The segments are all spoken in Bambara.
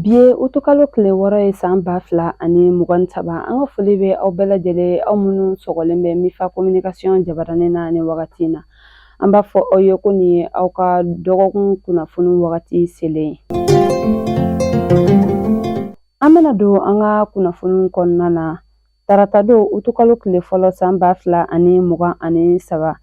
Bi ye utukalo kile wɔɔrɔ ye san ba fila ani mugan ni saba an ka foli bɛ aw bɛɛ lajɛlen aw minnu sɔgɔlen bɛ mifa kominikasiyɔn jabaranin na ni wagati in na an b'a fɔ aw ye ko nin ye aw ka dɔgɔkun kunnafoni wagati selen ye an bɛna don an ka kunnafoni kɔnɔna na taratadon utukalo kile fɔlɔ san ba fila ani mugan ani saba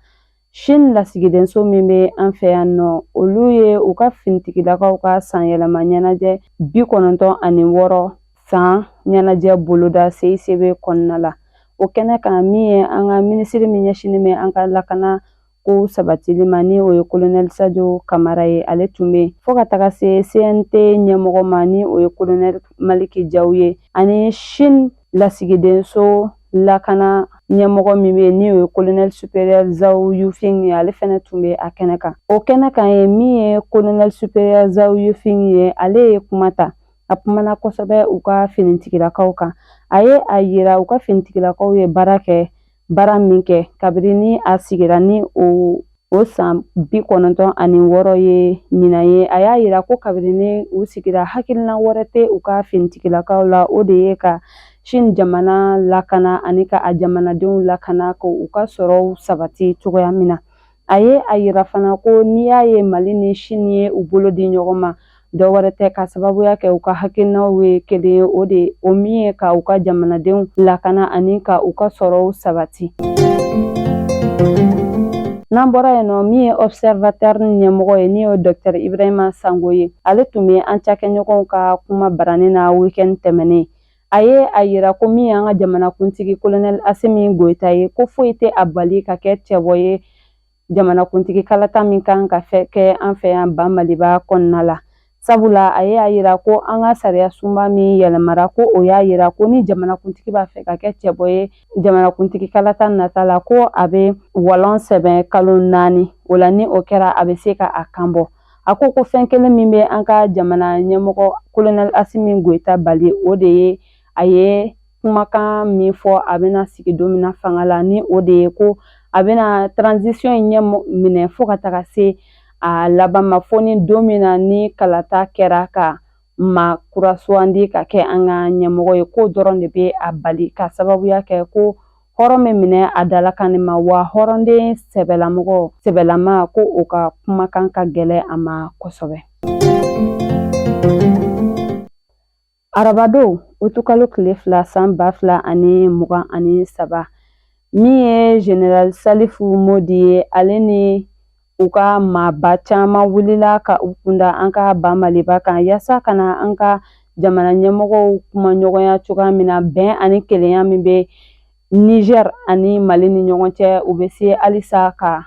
Sini lasigidenso min bɛ an fɛ yan nɔ olu ye u ka finitigilakaw ka sanyɛlɛma ɲɛnajɛ bi kɔnɔntɔn ani wɔɔrɔ san ɲɛnajɛ boloda CICB kɔnɔna la o kɛnɛ kan min ye an ka minisiri min ɲɛsinnen bɛ an ka lakana ko sabatili ma ni o ye kolonɛli sajo kamara ye ale tun bɛ fo ka taga se cnt ɲɛmɔgɔ ma ni o ye kolonɛli maliki jaw ye ani sini lasigidenso lakana ɲɛmɔgɔ min bɛ yen ni o ye kolonɛli superiɛri zawu yufing ye ale fɛnɛ tun bɛ a kɛnɛ kan o kɛnɛ kan ye min ye kolonɛli superiɛri zawu yufing ye ale ye kuma ta a kumana kosɛbɛ u ka finitigilakaw kan a ye a yira u ka finitigilakaw ye baara kɛ baara min kɛ kabini ni a sigira ni o san bi kɔnɔntɔn ani wɔɔrɔ ye ɲinan ye a y'a yira ko kabini ni u sigira hakilina wɛrɛ tɛ u ka finitigilakaw la o de ye ka sini jamana lakana ani ka a jamanadenw lakana ka u ka sɔrɔw sabati cogoya min na a ye a yira fana ko n'i y'a ye mali ni sini ye u bolo di ɲɔgɔn ma dɔ wɛrɛ tɛ ka sababuya kɛ u ka hakilinaw ye kelen ye o de ye o min ye ka u ka jamanadenw lakana ani ka u ka sɔrɔw sabati n'an bɔra yen nɔ min ye observateur ɲɛmɔgɔ ye ni o ye dɔktɛr ibrahima sango ye ale tun bɛ an cakɛɲɔgɔnw ka kuma baranin na weekend tɛmɛnen a ye a yira ko min y'an ka jamanakuntigi kolonɛli asimi goyita ye ko foyi tɛ a bali ka kɛ cɛbɔ ye jamanakuntigi kalata min kan ka kɛ an fɛ yan ban maliba kɔnɔna la sabula a ye a yira ko an ka sariya sunba min yɛlɛmara ko o y'a yira ko ni jamanakuntigi b'a fɛ ka kɛ cɛbɔ ye jamanakuntigi kalata nata la ko a bɛ walɔn sɛbɛn kalo naani o la ni o kɛra a bɛ se ka a kan bɔ a ko ko fɛn kelen min bɛ an ka jamana ɲɛmɔgɔ kolonɛli asimi goyita bali o de ye a ye kumakan min fɔ a bɛna sigi don min na fanga la ni o de ye ko a bɛna transition in ɲɛ minɛ fo ka taga se a laban ma fo ni don min na ni kalata kɛra ka ma kura sugandi ka kɛ an ka ɲɛmɔgɔ ye ko o dɔrɔn de bɛ a bali ka sababuya kɛ ko hɔrɔn bɛ minɛ a dalakan ma wa hɔrɔnden ɛm sɛbɛlama ko o ka kumakan ka gɛlɛn a ma kosɛbɛ arabadon utukalo tile fila san ba fila ani mugan ani saba min ye general salifu modi ye ale ni u ka maaba caman wulila ka u kunda an ka ba maliba kan yaasa ka na an ka jamana ɲɛmɔgɔw kuma ɲɔgɔnya cogoya min na bɛn ani kelenya min bɛ niger ani mali ni ɲɔgɔn cɛ u bɛ se halisa ka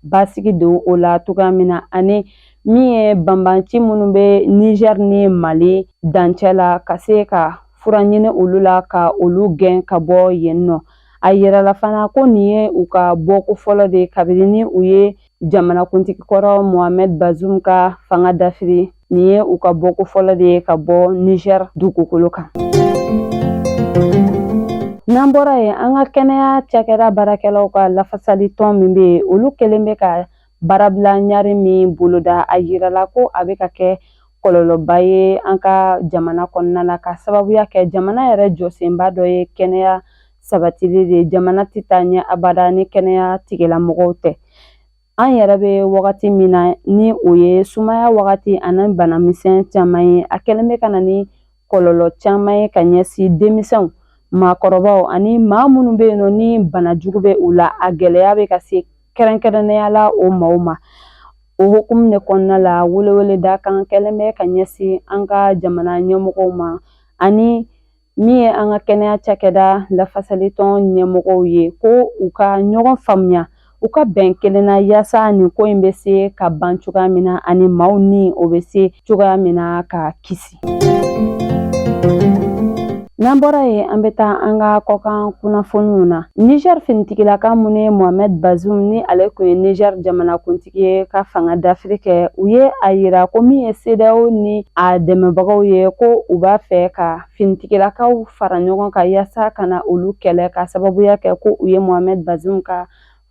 basigi don o la cogoya min na ani min ye banbanci minnu bɛ niger ni mali dancɛ la ka se ka fura ɲini olu la ka olu gɛn ka bɔ yen nɔ a yirala fana ko nin ye u ka bɔko fɔlɔ de kabini ni u ye jamanakuntigi kɔrɔ mohamed bazoum ka fanga dafiri nin ye u ka bɔko fɔlɔ de ye ka bɔ niger dugukolo kan n'an bɔra yen an ka kɛnɛya cakɛda baarakɛlaw ka lafasali tɔn min bɛ yen olu kɛlen bɛ ka baarabila ɲari min boloda a yirala ko a bɛ ka kɛ kɔlɔlɔba ye an ka jamana kɔnɔna na ka sababuya kɛ jamana yɛrɛ jɔsenba dɔ ye kɛnɛya sabatili de jamana tɛ taa ɲɛ abada ni kɛnɛya tigilamɔgɔw tɛ an yɛrɛ bɛ wagati min na ni o ye sumaya wagati ani banamisɛn caman ye a kɛlen bɛ ka na ni kɔlɔlɔ caman ye ka ɲɛsin denmisɛnw maakɔrɔbaw ani maa minnu bɛ yen nɔ ni bana jugu bɛ u la a gɛlɛya bɛ ka se kɛrɛnkɛrɛnnenya la o maaw ma o hukumu de kɔnɔna la weleweleda kan kɛlen bɛ ka ɲɛsin an ka jamana ɲɛmɔgɔw ma ani min ye an ka kɛnɛya cakɛda lafasalitɔn ɲɛmɔgɔw ye ko u ka ɲɔgɔn faamuya u ka bɛn kelen na yaasa nin ko in bɛ se ka ban cogoya min na ani maaw ni o bɛ se cogoya min na ka kisi n'an bɔra yen an bɛ taa an ka kɔkan kunnafoniw na niger finitigilaka minnu ye mohamed bazoum ni ale tun ye niger jamanakuntigi ye ka fanga dafiri kɛ u ye a yira ko min ye CEDEAO ni a dɛmɛbagaw ye ko u b'a fɛ ka finitigilakaw fara ɲɔgɔn kan yaasa ka na olu kɛlɛ ka sababuya kɛ ko u ye mohamed bazoum ka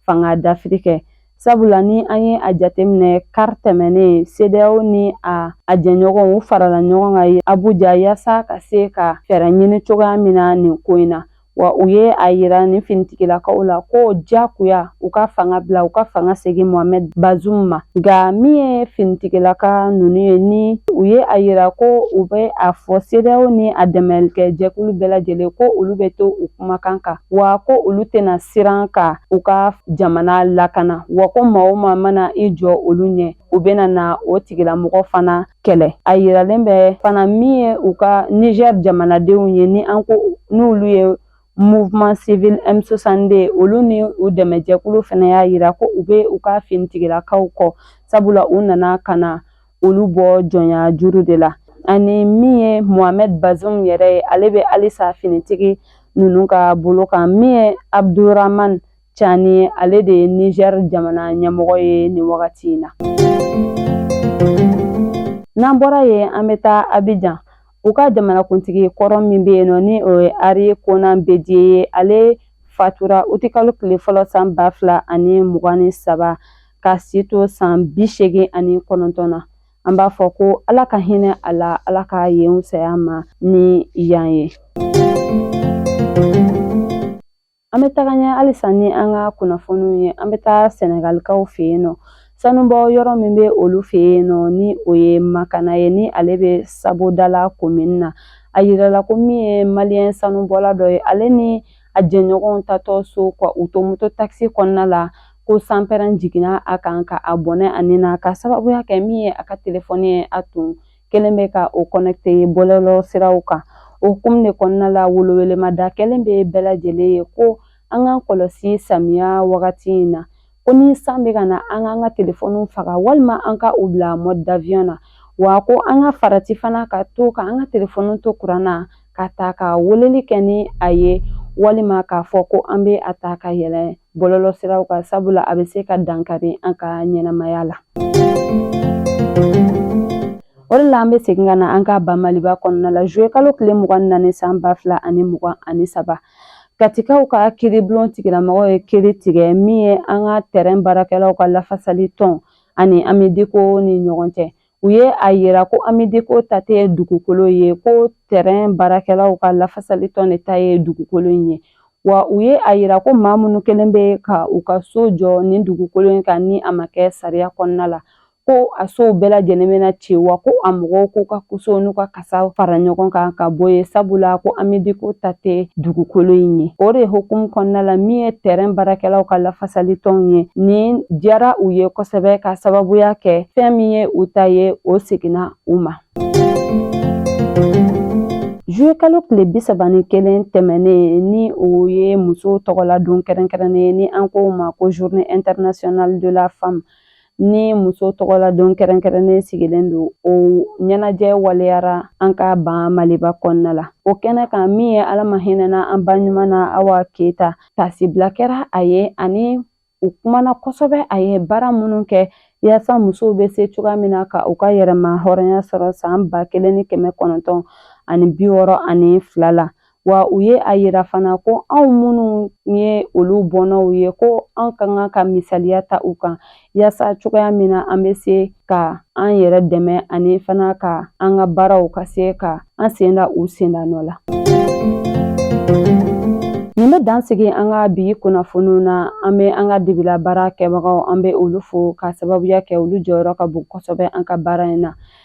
fanga dafiri kɛ sabula ni an ye a jateminɛ kari tɛmɛnen CEDEAO ni a a jɛɲɔgɔnw u farala ɲɔgɔn kan abuja yaasa ka se ka fɛɛrɛ ɲini cogoya min na nin ko in na wa u ye a yira nin finitigilakaw la ko jagoya u ka fanga bila u ka fanga segin mohamed bazoum ma nka min ye finitigilaka ninnu ye ni u ye a yira ko u bɛ a fɔ CEDEAO ni a dɛmɛlikɛ jɛkulu bɛɛ lajɛlen ko olu bɛ to u kumakan kan wa ko olu tɛna siran ka u ka jamana lakana wa ko maa o maa mana i jɔ olu ɲɛ u bɛna na o tigilamɔgɔ fana kɛlɛ a yiralen bɛ fana min ye u ka niger jamanadenw ye ni an ko n'olu ye mouvement civil M62 olu ni u dɛmɛjɛkulu fana y'a yira ko u bɛ u ka finitigilakaw kɔ sabula u nana ka na olu bɔ jɔnya juru de la ani min ye mohamed bazoum yɛrɛ ye ale bɛ halisa finitigi ninnu ka bolo kan min ye abdourahamane Cani ye ale de ye Niger jamana ɲɛmɔgɔ ye nin wagati in na. N'an bɔra yen an bɛ taa Abidjan u ka jamanakuntigi kɔrɔ min bɛ yen nɔ ni o ye Henri Konan Bédié ye ale fatura utikalo tile fɔlɔ san ba fila ani mugan ni saba ka si to san bi seegin ani kɔnɔntɔn na an b'a fɔ ko ala ka hinɛ a la ala ka yen fisaya a ma ni yan ye An bɛ taga ɲɛ halisa ni an ka kunnafoniw ye an bɛ taa sɛnɛgalikaw fɛ yen nɔ sanubɔ yɔrɔ min bɛ olu fɛ yen nɔ ni o ye makana ye ni ale bɛ sabodala komini na a yirala ko min ye maliyɛn sanubɔla dɔ ye ale ni a jɛɲɔgɔnw taatɔ so ka u to moto takisi kɔnɔna la ko sanpɛrɛn jiginna a kan ka a bɔnɛ a ni na ka sababuya kɛ min ye a ka telefɔni ye a tun kɛlen bɛ ka o connecter bɔlɔlɔ siraw kan o hukumu de kɔnɔna la welewelemada kɛlen bɛ bɛɛ lajɛlen ye ko an k'an kɔlɔsi samiya wagati in na ko ni san bɛ ka na an k'an ka telefɔniw faga walima an ka u bila mode d'avion na wa ko an ka farati fana ka to ka an ka telefɔniw to kuran na ka ta ka weleli kɛ ni a ye walima k'a fɔ ko an bɛ a ta ka yɛlɛ bɔlɔlɔ siraw kan sabula a bɛ se ka dankari an ka ɲɛnamaya la o de la an bɛ segin ka na an ka ba maliba kɔnɔna la juillet kalo tile mugan ni naani san ba fila ani mugan ani saba katikaw ka kiiribulon tigilamɔgɔw ye kiiri tigɛ min ye an ka tɛrɛn baarakɛlaw ka lafasali tɔn ani amidiko ni ɲɔgɔn cɛ u ye a yira ko amideko ta tɛ dugukolo ye ko tɛrɛn baarakɛlaw ka lafasali tɔn de ta ye dugukolo in ye wa u ye a yira ko maa minnu kɛlen bɛ ka u ka so jɔ nin dugukolo in kan ni a ma kɛ sariya kɔnɔna la ko a sow bɛɛ lajɛlen bɛna ci wa ko a mɔgɔw k'u ka koso n'u ka kasa fara ɲɔgɔn kan ka bɔ yen sabula ko amidiko ta tɛ dugukolo in ye o de hukumu kɔnɔna la min ye tɛrɛn baarakɛlaw ka lafasali tɔnw ye nin diyara u ye kosɛbɛ ka sababuya kɛ fɛn min ye u ta ye o seginna u ma juillet kalo tile bi saba ni kelen tɛmɛnen ni o ye musow tɔgɔla don kɛrɛnkɛrɛnnen ye ni an k'o ma ko journée internationale de la femme ni muso tɔgɔla don kɛrɛnkɛrɛnnen sigilen don o ɲɛnajɛ waleyara an ka ba maliba kɔnɔna la o kɛnɛ kan min ye ala ma hinɛna an ba ɲuman na awa keyita taasibila kɛra a ye ani u kumana kosɛbɛ a ye baara minnu kɛ yaasa musow bɛ se cogoya min na ka u ka yɛrɛma hɔrɔnya sɔrɔ san ba kelen ni kɛmɛ kɔnɔntɔn ani bi wɔɔrɔ ani fila la wa u ye a yira fana ko anw minnu ye olu bɔnnaw ye ko an ka kan ka misaliya ta u kan yaasa cogoya min na an bɛ se ka an yɛrɛ dɛmɛ ani fana ka an ka baaraw ka se ka an sen da u senda nɔ la. Nin bɛ dan sigi an ka bi kunnafoniw na an bɛ an ka dibila baara kɛbagaw an bɛ olu fo ka sababuya kɛ olu jɔyɔrɔ ka bon kosɛbɛ an ka baara in na.